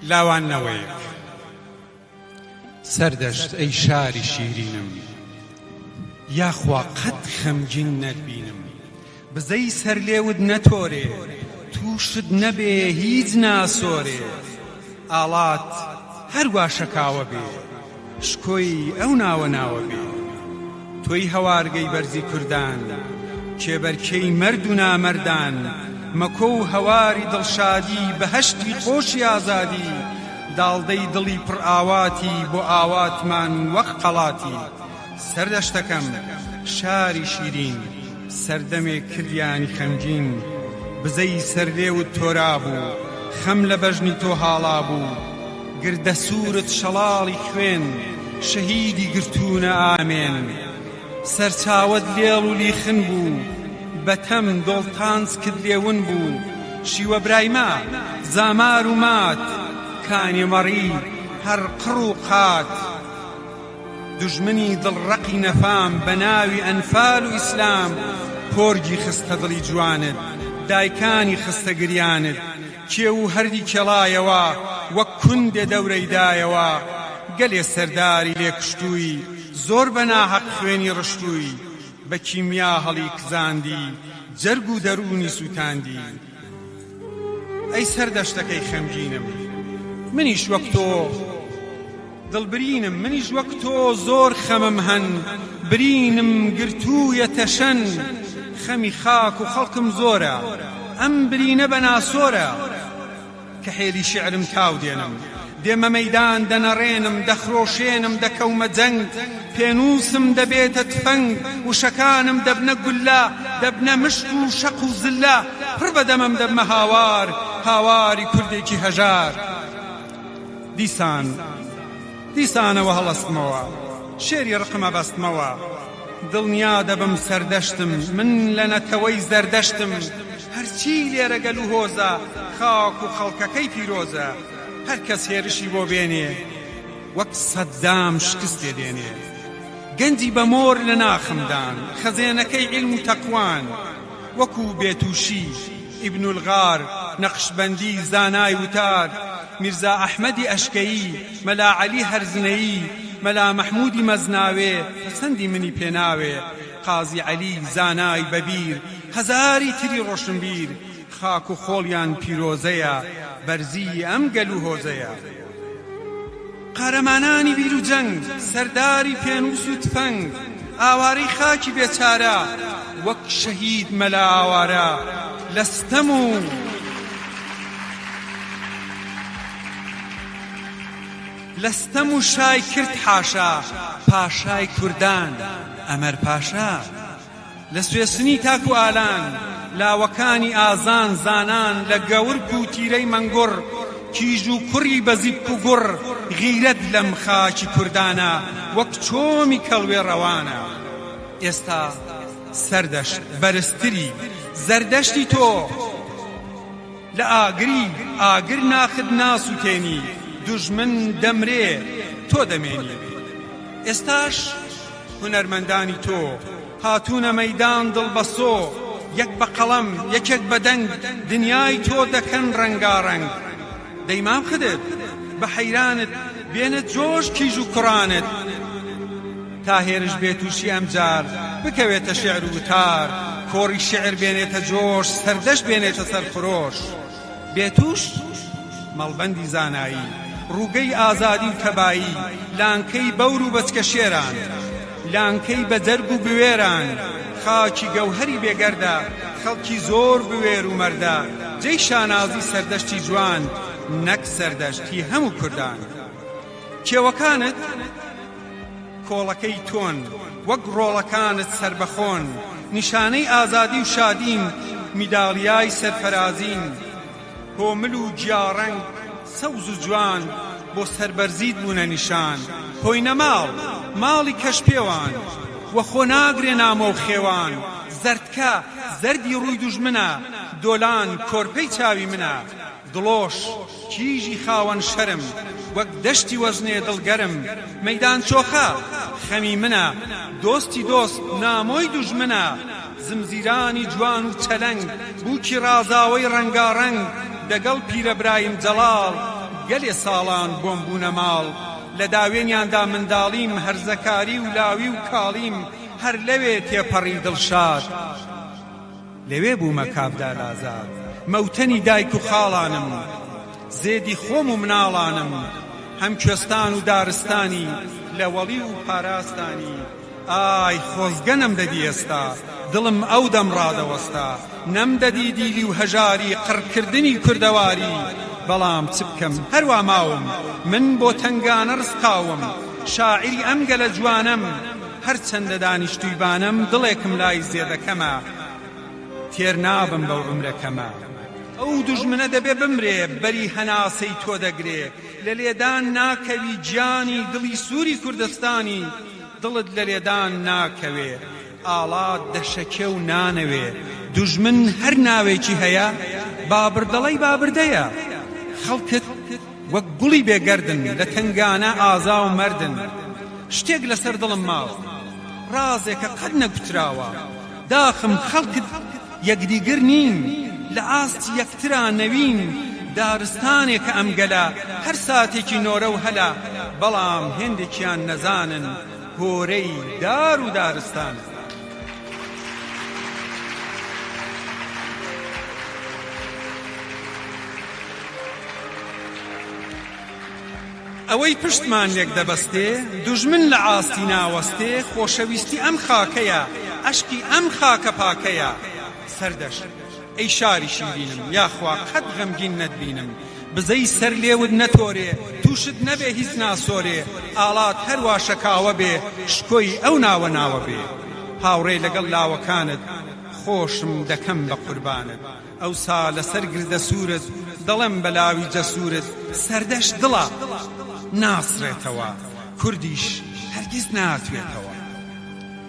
لاوان نەوەیەک سەردەشت ئەی شاری شیرینم یاخوا قەت خەمگین نەتبینم بزەی سەر لێوت نەتۆرێ تووشت نەبێ هیچ ناسۆرێ ئاڵات هەروا شەکاوە بێ شکۆی ئەو ناوە ناوە بێ تۆی هەوارگەی بەرزی کوردان کێبەرکێی مەرد و نامەردان مەکۆ و هەواری دڵشادی بەهەشتی خۆشی ئازادی داڵدەی دڵی پڕئاواتی بۆ ئاواتمان وەک قەڵاتی سەردەشتەکەم شاری شیرین سەردەمێک کردیانی خەمگین بزەی سەر لێوت تۆرابوو خەم لە بەژنی تۆ هاڵابوو گردە سوورت شەڵاڵی خوێن شەهیدی گرتوونە ئامێن سەرچاوەت لێڵ و لیخن بوو بە تەم دۆڵ تانسکت لێ ون بوو شیوە برایمە زامار و مات کانیمەڕی هەر قڕ و قات دوژمنی دڵ ڕەقی نەفام بە ناوی ئەنفال و ئیسلام پۆرگی خستە دڵی جوانت دایکانی خستە گریانت کێو و هەردی کێڵایەوە وەک کوندێ دەورەی دایەوە گەلێ سەرداری لێ کوشتووی زۆر بە ناهەق خوێنی ڕشتووی بە کیمیا هەڵی کزاندی جەرگ و دەروونی سووتاندی ئەی سەر دەشتەکەی خەمگینم منیش وەک تۆ دڵ برینم منیش وەک تۆ زۆر خەمم هەن برینم گرتوویە تەشەن خەمی خاک و خەڵکم زۆرە ئەم برینە بە ناسۆرە کەحێلی شیعرم تاو دێنم، دێمە مەیدان دەنەڕێنم، دەخرۆشێنم، دەکەومە جەنگ، پێنووسم دەبێتە تفەنگ، وشەکانم دەبنە گوللە، دەبنە مشک و شەق و زللە، پڕ بە دەمم دەبمە هاوار، هاواری کوردێکی هەژار. دیسان، دیسانەوە هەڵەستمەوە، شێری ڕقم ئەبەستمەوە، دڵنیا دەبم سەردەشتم، من لە نەتەوەی زەردەشتم، هەرچی لێرە گەل و هۆزە، خاک و خەڵکەکەی پیرۆزە، هەر کەس هێرشی بۆ بێنێ، وەک سەدام شکست لێ دێنێ. گەنجی بە مۆر لە ناخم دان، خەزێنەکەی عیلم و تەقوان، وەکو بێتووشی، ئیبن الغار، نەقشبەندی، زانای وتار، میرزا ئەحمەدی ئەشکەیی، مەلا عەلی هەرزنەیی، مەلا مەحموودی مەزناوێ، پەسەندی منی پێ ناوێ، قازی عەلی زانای بەبیر هەزاری تری ڕۆشنبیر خاک و خۆڵیان پیرۆزەیە بەرزیی ئەم گەل و هۆزەیە قارەمانانی بیر و جەنگ سەرداری پێنووس و تفەنگ ئاوارەی خاکی بێچارە وەک شەهید مەلا ئاوارە لە ستەم و لە ستەم و شای کرد حاشا پاشای کوردان ئەمەر پاشا لە سوێسنی تاکو ئالان لاوەکانی ئازان زانان لە گەورک و تیرەی مەنگوڕ کیژ و کوڕی بە زیپک و گوڕ غیرەت لەم خاکی کوردانە وەک چۆمی کەڵوێ ڕەوانە ئێستا سەردەشت بەرزتری زەردەشتی تۆ لە ئاگری ئاگر ناخت ناسوتێنی دوژمن دەمرێ تۆ دەمێنی ئێستاش هونەرمەندانی تۆ هاتونە مەیدان دڵبەسۆ یەک بە قەڵەم یەکێک بە دەنگ دنیای تۆ دەکەن ڕەنگاڕەنگ دەی مام خدر بە حەیرانت بێنە جۆش کیژ و کوڕانت تا هێرش بێ تووشی ئەمجار بکەوێتە شێعر و وتار کۆڕی شێعر بێنێتە جۆش سەردەشت بێنێتە سەرخرۆش بێ تووش مەڵبەندی زانایی ڕووگەی ئازادی و تەبایی لانکەی بەور و بەچکە شێران لانکەی بە جەرگ و بوێران خاکی گەوهەری بێ گەردە خەڵکی زۆر بوێر و مەردە جێی شانازی سەردەشتی جوان نەک سەردەشت هی هەموو کوردان کێوەکانت کۆڵەکەی تۆن وەک ڕۆڵەکانت سەربەخۆن نیشانەی ئازادی و شادین میدالیای سەرفەرازین کۆمل و گیاڕەنگ سەوز و جوان بۆ سەربەرزیت بوونە نیشان کۆینە ماڵ ماڵی کەش پێوان وە خۆ ناگرێ نامۆ و خێوان زەردکە زەردی ڕووی دوژمنە دۆلان کۆرپەی چاوی منە دڵۆش کیژی خاوەن شەرم، وەک دەشتی وەزنێ دڵ گەرم، مەیدان چۆخە خەمی منە، دۆستی دۆست نامۆی دوژمنە، زمزیرانی جوان و چەلەنگ، بووکی ڕازاوەی ڕەنگاڕەنگ، دەگەڵ پیرە برایم جەڵاڵ، گەلێ ساڵان بۆم بوونە ماڵ، لە داوێنیاندا منداڵیم، هەرزەکاری و لاوی و کاڵیم، هەر لەوێ تێپەڕی دڵشاد. لەوێ بوومە کابرا لازاو. مەوتەنی دایک و خاڵانم. زێدی خۆم و مناڵانم. هەم کوێستان و دارستانی لە وەڵی و پاراستانی. ئای خۆزگە نەمدەدی ئێستا. دڵم ئەو دەم ڕادەوەستا. نەمدەدی دیلی و هەژاری قڕ کردنی کوردەواری. بەڵام چ بکەم هەر وا ماوم. من بۆ تەنگانە ڕسقاوم. شاعیری ئەم گەلە جوانەم. هەرچەندە دانیشتووی بانەم دڵێکم لای زێدە کەمە تێر نابم بەو عومرە کەمە ئەو دوژمنە دەبێ بمرێ بەری هەناسەی تۆ دەگرێ لە لێدان ناکەوی گیانی دڵی سووری کوردستانی دڵت لە لێدان ناکەوێ ئاڵات دەشەکێ و نانەوێ دوژمن هەر ناوێکی هەیە بابردەڵەی بابردەیە خەڵکت وەک گوڵی بێ گەردن لە تەنگانە ئازا و مەردن شتێک لەسەر دڵم ماوە ڕازێکە قەت نەگوتراوە داخم خەڵکت یەکدیگر نین لە ئاستی یەکترا نەوین دارستانێکە ئەم گەلە هەر ساتێکی نۆرە و هەلە بەڵام هێندێکیان نەزانن هۆرەی دار و دارستانن. ئەوەی پشتمان لێک دەبەستێ، دوژمن لە ئاستی ناوەستێ خۆشەویستی ئەم خاکەیە، ئەشقی ئەم خاکە پاکەیە، سەردەشت! ئەی شاری شیرینم یاخوا قەت غەمگین نەتبینم بزەی سەر لێوت نەتۆرێ تووشت نەبێ هیچ ناسۆرێ ئاڵات هەر وا شەکاوە بێ شکۆی ئەو ناوە ناوە بێ هاوڕێ لەگەڵ لاوەکانت خۆشم دەکەم بە قوربانت ئەوسا لەسەر گردە سوورت دەڵێم بە لاوی جەسوورت سەردەشت دڵە ناسڕێتەوە کوردیش هەرگیز ناتوێتەوە.